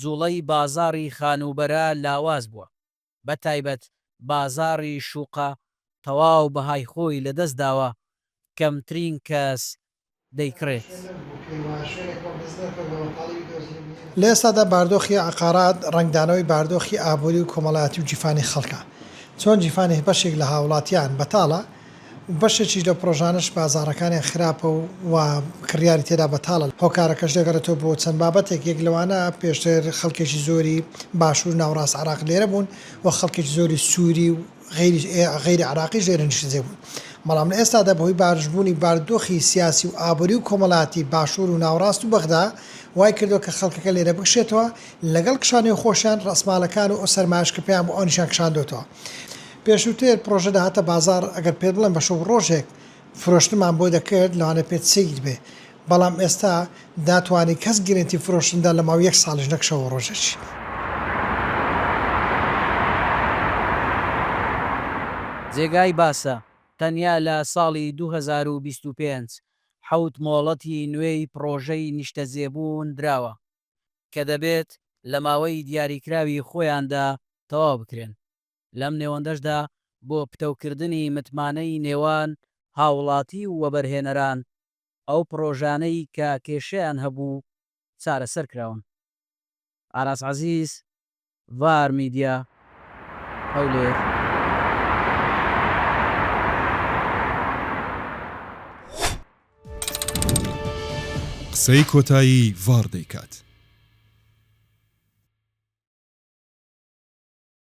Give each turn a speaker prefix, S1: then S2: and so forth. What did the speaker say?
S1: جوڵەی بازاڕی خانووبەرە لاواز بووە، بە تایبەت بازاڕی شوقە تەواو بەهای خۆی لە دەست داوە، کەمترین کەس دەیکڕێت.
S2: لە ئێستادا باردۆخی عەقارات ڕەنگدانەوەی باردۆخی ئابووری و کۆمەڵایەتی و جیفانی خەڵکە، چۆن جیفانی بەشێک لە هاوڵاتیان بەتاڵە، بەشێکیش لەو پڕۆژانەش بازاڕەکانیان خراپە و وا کڕیاری تێدا بەتاڵە، هۆکارەکەش دەگەڕێتەوە بۆ چەند بابەتێک، یەک لەوانە پێشتر خەڵکێکی زۆری باشوور و ناوەڕاست عێراق لێرە بوون و خەڵکێکی زۆری سووری و غەیری عێراقیش لێرە نیشتەجێ بوون، بەڵام لە ئێستادا بەهۆی بارشبوونی باردۆخی سیاسی و ئابووری و کۆمەڵایەتی باشوور و ناوەڕاست و بەغدا وای کردووە کە خەڵکەکە لێرە بکشێتەوە لەگەڵ کشانەوەی خۆشیان، ڕەسماڵەکان و ئەو سەرمایەش کە پێیان بۆ ئەوانیشیان کشاندۆتەوە. پێشووتر پرۆژە دەهاتە بازاڕ ئەگەر پێت بڵێم بە شەو ڕۆژێک فرۆشتنمان بۆ دەکرد لەوانەیە پێت سەیر بێ بەڵام ئێستا ناتوانی کەس گرێنتی فرۆشتن بدات لە ماوەی یەک ساڵیش نەک شەو و ڕۆژێکی.
S1: جێگای باسە تەنیا لە ساڵی دوو هەزار و بیست و پێنج حەوت مۆڵەتی نوێی پڕۆژەی نیشتەجێبوون دراوە کە دەبێت لە ماوەی دیاریکراوی خۆیاندا تەواو بکرێن. لەم نێوەندەشدا بۆ پتەوکردنی متمانەی نێوان هاوڵاتی و وەبەرهێنەران، ئەو پڕۆژانەی کە کێشەیان هەبوو چارەسەر کراون. ئاراس عەزیز، ڤار میدیا، هەولێر.
S3: قسەی کۆتایی ڤار دەیکات.